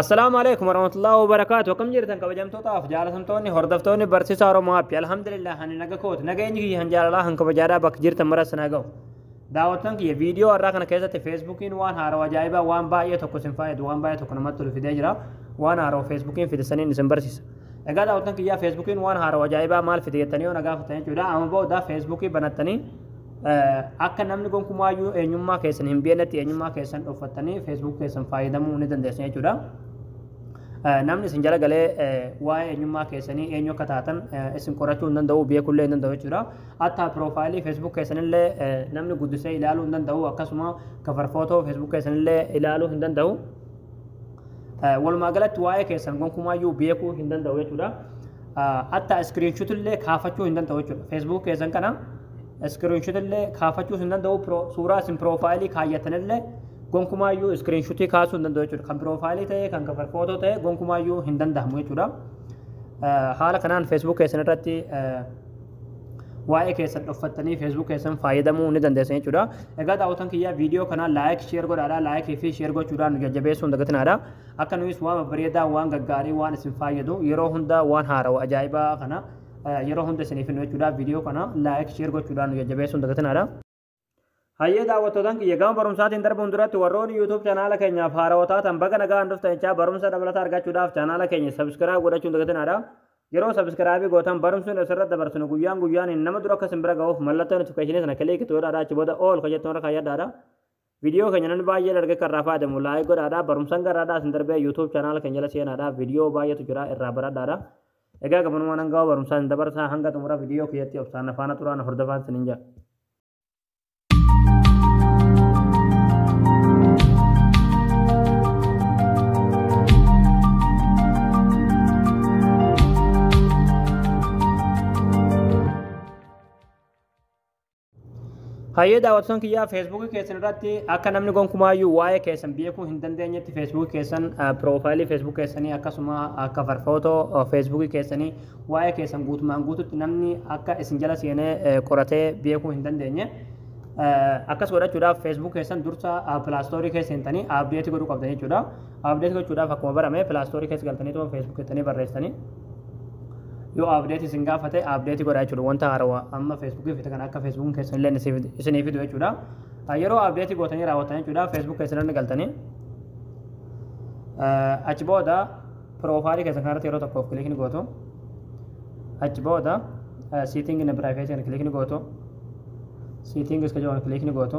Assalaamu alaikum warahmatullahi wabarakatuh akkam jirtan kabajamtootaaf jaalatamtoonni hordoftoonni barsiisaa Oromoo Haappi alhamdulillah ani naga kooti nageenyi kiyya kan jaalalaa kan kabajaadhaa bakka jirtan maras na ga'u daawwattan kiyya viidiyoo har'aa kana keessatti feesbuukiin waan haarawa ajaa'ibaa waan baay'ee tokko isin faayadu waan baay'ee tokko namatti tolu fidee jira waan haarawa feesbuukiin fide saniin isin barsiisa egaa daawwattan kiyyaa feesbuukiin waan haarawa ajaa'ibaa maal fide jettanii yoo na gaafatan jechuudha amma booda feesbuukii banattanii akka namni gonkumaayyuu eenyummaa keessan hin beeknetti eenyummaa keessan dhoffattanii feesbuuk keessan fayyadamuu ni dandeessu jechuudha. Namni isin jala galee waa'ee eenyummaa keessanii eenyu akka taatan isin qorachuu hin danda'u beekullee hin danda'u jechuudha. Hatta piroofaayilii feesbuuk keessanillee namni guddisee ilaaluu hin danda'u akkasuma kafar footoo feesbuuk keessanillee ilaaluu hin danda'u. Walumaa galatti waa'ee keessan gonkumaayyuu beekuu hin danda'u jechuudha. Hatta iskiriinshuutillee kaafachuu hin danda'u jechuudha. Feesbuuk keessan kana iskiriinshutillee kaafachuus hin danda'u pro- suuraa isin piroofaayilii kaayyatanillee gonkumaayyuu iskiriinshutii kaasuu hin danda'u jechuudha kan piroofaayilii ta'ee kan kafar footoo ta'ee gonkumaayyuu hin danda'amu jechuudha Eh, haala kanaan feesbuuk keessan irratti eh, waa'ee keessan dhoffattanii feesbuuk keessan fayyadamuu ni dandeessan jechuudha egaa daawwatan kiyyaa viidiyoo kanaa laayik sheer godhaadha laayikii fi sheer gochuudhaan nu jajjabeessuu hin dagatinaadha akka nuyis waan babbareedaa waan gaggaarii waan isin fayyadu yeroo hundaa waan haarawa ajaa'ibaa kana yeroo hunda isiniif hin jechuudha viidiyoo kana laayik sheer gochuudhaan nu jajjabeessuun dagatinaadha. Hayyee daawwattootaan kiyya gama barumsaatiin darbuun duratti warroonni YouTube chaanaala keenyaaf haarawaa taatan baga nagaan dhuftanicha barumsa dabalataa argachuudhaaf chaanaala keenya sabiskiraayib godhachuun dagatinaadha. Yeroo sabiskiraayibii gootan barumsuun asirratti dabarsinu guyyaan guyyaan nama dura akka isin bira ga'uuf mallattoo notifikashinii sana kiliik itti godhaadha achi booda ool kan jettu irra kaayyadhaadha. Video keenya namni baay'een arge kan irraa fayyadamu like godhaadha. Barumsan garraadhaa isin darbee YouTube channel keenya jala seenaadha. Video baay'eetu jira irraa baradhaadha. Egaa gabanumaan hanga barumsaa isin dabarsaa hanga xumura video kiyyatti obsaan na faana turaa na hordofaan isinin jedha. Hayyee daawwattoon kiyyaa feesbuukii keessan irratti akka namni gonkumaayyuu waa'ee keessan beekuu hin dandeenyetti feesbuukii keessan piroofaayilii feesbuukii keessanii akkasuma akka farfootoo feesbuukii keessanii waa'ee keessan guutumaan guututti namni akka isin jala seenee qoratee beekuu hin dandeenye. Akkas godhachuudhaaf feesbuukii keessan dursa pilaastoorii keessa hintanii abdeetii godhuu qabdan jechuudha. Abdeetii gochuudhaaf akkuma barame pilaastoorii keessa galtanii feesbuukii keessanii barreessanii. yoo update isin gaafate update godha jechuudha wanta haarawaa amma facebook fi kan akka facebook keessan illee isin- isinii fidu jechuudha Ah, yeroo update gootanii raawwatan jechuudha facebook keessan irra galtanii Ah, achi booda profailii keessan kanarratti yeroo tokkoof kilik ni gootu achi booda ah, setting in privacy kan kilik ni gootu settings kan jedhamu kilik ni gootu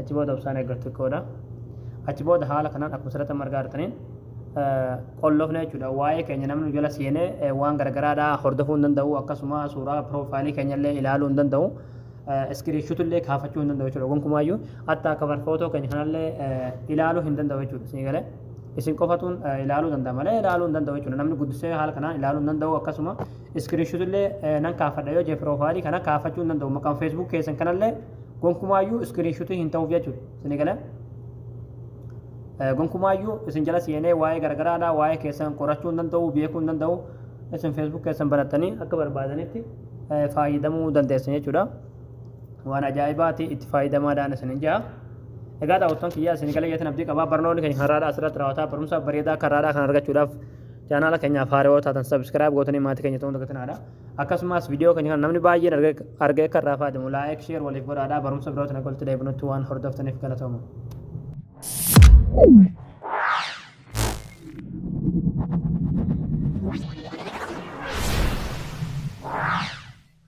achi booda obsaan eeggattu xiqqoodha achi booda haala kanaan akkuma sirratti amma argaa jirtaniin qolloofne jechuudha waa'ee keenya namni nu jala seenee eh, waan garagaraadhaa hordofuu hin danda'u akkasuma suuraa piroofaayilii keenya illee ilaaluu hin danda'u iskiriishuutu illee kaafachuu hin danda'u jechuudha gonkumaayyuu hatta akka barfootoo keenya kanallee eh, ilaaluu hin danda'u jechuudha isin galee isin qofatuun eh, ilaaluu danda'a malee ilaaluu hin danda'u jechuudha namni guddisee haala kanaan ilaaluu hin danda'u akkasuma Screenshot illee nan kaafadha yoo jee profile kana kaafachuu hin danda'u maqaan Facebook keessan kanallee gonkumaayyuu screenshot hin ta'uuf jechuudha isin gala gonkumaayyuu isin jala seenee waa'ee garagaraadha waa'ee keessan qorachuu hin danda'u beekuu hin danda'u isin Facebook keessan banattanii akka barbaadanitti fayyadamuu dandeessan jechuudha waan ajaa'ibaati itti fayyadamaadhaan isin hin ja'a egaa daawwattoon kiyyaa isin gala jeetan abdii qabaa barnoonni keenya kan raadhaa asirratti raawwataa barumsa bareedaa kan raadhaa kan argachuudhaaf Chaanaala keenyaaf haaraa yoo taatan sabiskiraayib gootanii maatii keenya ta'uun dagatinaadha. Akkasumas viidiyoo keenya kana namni baay'een argee akka irraa fayyadamu laayik sheer waliif godhaadha. Barumsa birootiin akka walitti deebinutti waan hordoftaniif galatooma.